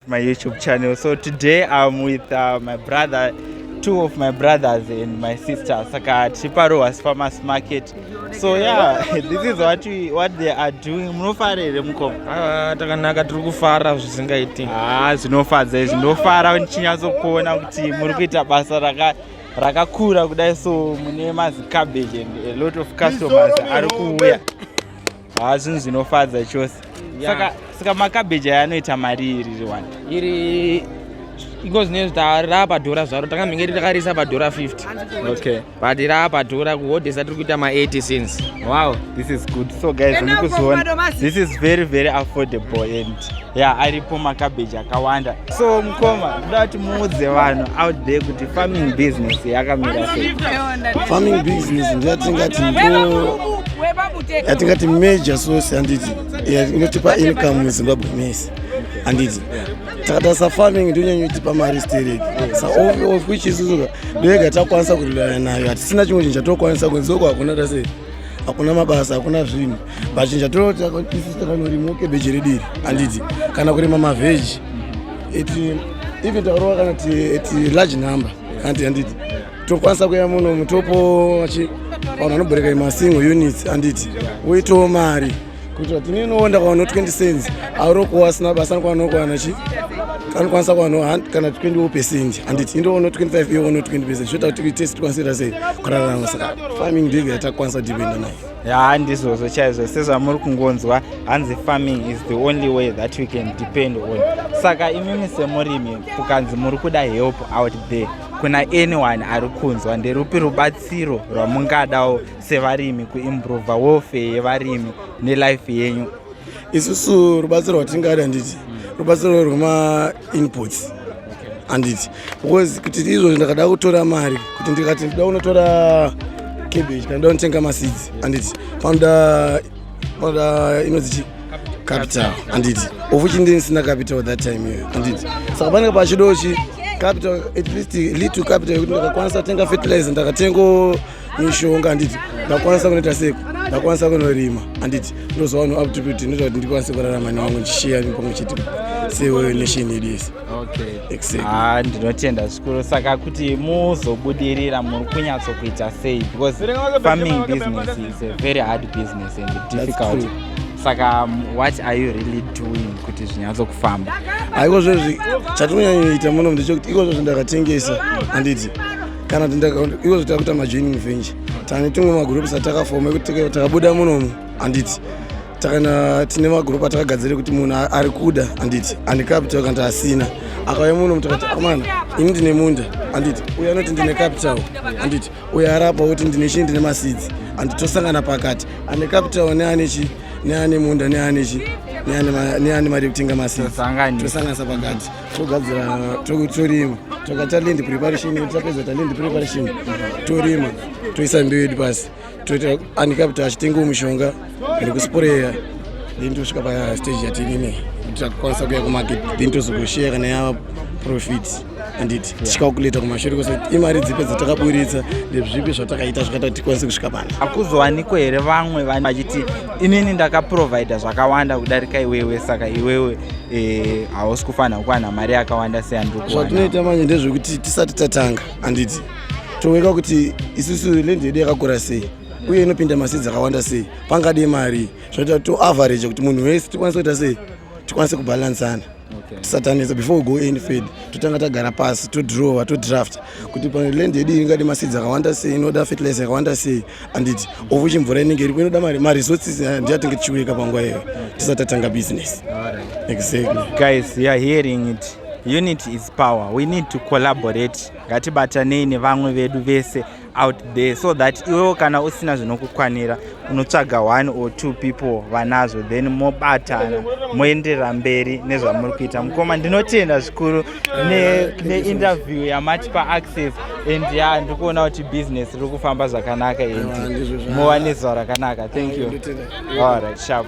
my youtube channel so today i'm with uh, my brother two of my brothers and my sister saka tiri parohas farmers market so yeah this is what, we, what they are doing munofara here mukoma ah, takanaka tiri kufara zvisingaiti ah, zvinofadza izvi ndofara ndichinyatsokuona kuti muri kuita basa raka rakakura kudai so mune mazicabbage and a lot of customers ari kuuya haa zvinhu zvinofadza chose saka saka makabeji aya anoita mari iri riwani iri ingozi nezvita raapadhora zvaro takamhenge titakarisa padhora 50 okay but raapadhora kuhodhesa tiri kuita ma80 since wow this is good so guys mukuziona this is very very affordable and ya aripo makabeji akawanda so mukoma ndoda kuti muudze vanhu out there kuti farming business yakamira sei farming business ndoyatingati ndo yatingati major source handiti inotipa income muzimbabwe mese handiti takata safarming ndonyanyotipa mari stereki saof which isusuka ndoyega takwanisa kurelana nayo hatisina chimwe chinhu chatokwanisa kunzi oko hakuna tase hakuna mabasa hakuna zvinhu vachinja tonotakanorimawo kebeji redu iri handiti kana kurima mavheji iti even takarova kana ti large number kana ti handiti tokwanisa kuya muno mutopo vachi vanhu vanoboreka imasingo units handiti woitawo mari kuitira tini inoonda kwavano 20 cents arokuwa asina basa anokwanokwana chi anokwanisa kuwana kana 20 percent handiti indoona 25 iyoona 20 percent zvoita kuti tese tikwanise ra sei kurarama saka farming ndiyo yatakwanisa dipenda nayo yaa ndizvozvo chaizvo sezvamuri kungonzwa hanzi farming is the only way that we can depend on saka imimi semurimi kukanzi muri kuda help out there kuna anyone ari kunzwa nderupi rubatsiro rwamungadawo sevarimi kuimprove welfare yevarimi nelife yenyu isusu rubatsiro rwatingada handiti rubatsiro rwemainputs handiti because kuti izvozvo ndakada kutora mari kuti ndikati ndida kunotora cabbage kana ndida kunotenga maseeds anditi panoda panoda inonzi chii capital anditi of which ndini sina capital that time iyoyo anditi saka panenge pachido chi capital at least little capital yekuti ndakakwanisa kutenga fertilizer ndakatengo mishonga anditi ndakwanisa kunoita seko ndakwanisa kunorima anditi ndozova no aptitude inoita kuti ndikwanise kurarama newangu ndichishiya pamwe chete senation yedu yese okay exactly ah ndinotenda zvikuru saka kuti muzobudirira muri kunyatso kuita sei because farming business is a very hard business and difficult saka um, what are you really doing kuti zvinyatso kufamba haiko zvezvi chatinonyanyoita muno ndechekuti iko zvezvi ndakatengesa handiti kana kuti iko zvezvi takuita majoining venture tane tumwe magroups atakafoma ekuti takabuda munomu handiti takana tine magrupu atakagadzira kuti munhu ari kuda handiti andikapital kana taasina akauya muno mutakati amana ini ndine munda handiti uyo anoti ndine capital handiti uyo arapa kuti ndine chii ndine masidzi handiti tosangana pakati ane capital neane chi neane munda neane chi neane mari yekutenga masitosanganisa pakati togadzira torima tokaita land preparation tapedza ta land preparation torima toisa mbeu yedu pasi toita anika kuti achitengewo mushonga ende kusporeya then tosvika pastage yatinini kuti takukwanisa kuya kumarket then tozogosheya kana yava profit anditi tichikakuleta kumashure kose imari dzipi dzatakaburitsa ndezvipi zvatakaita zvakaita kuti tikwanise kusvika pano hakuzowanikwa here vamwe vane vachiti inini ndakaprovida zvakawanda kudarika iwewe saka iwewe eh, hausi kufanira kuwana mari yakawanda seyandiri kuwana zvatinoita manje ndezvekuti tisati tatanga handiti tooneka kuti isusu lendi yedu yakakura sei uye inopinda masi dzakawanda sei pangade mari zvinoita to average kuti munhu wese tikwanise kuita sei tikwanise kubhalansana tisatanisa before we go any fed totanga tagara pasi todrawer todraft kuti paland yedu ingade masi dzakawanda sei inoda fertilizer yakawanda sei handiti of which mvura inenge iripo inoda mari maresources aya ndiyatinge tichiuyeka panguva iyoyo tisati tatanga business exactly guys youare hearing it unity is power we need to collaborate ngatibatanei nevamwe vedu vese out there so that iwewo kana usina zvinokukwanira unotsvaga one or two people vanazvo then mobatana moenderera mberi nezvamuri kuita mukoma ndinotenda zvikuru neinterview ne yamatipa access and ya ndikuona kuti business riri kufamba zvakanaka and muwane zuva rakanaka thank you all right sharp sharp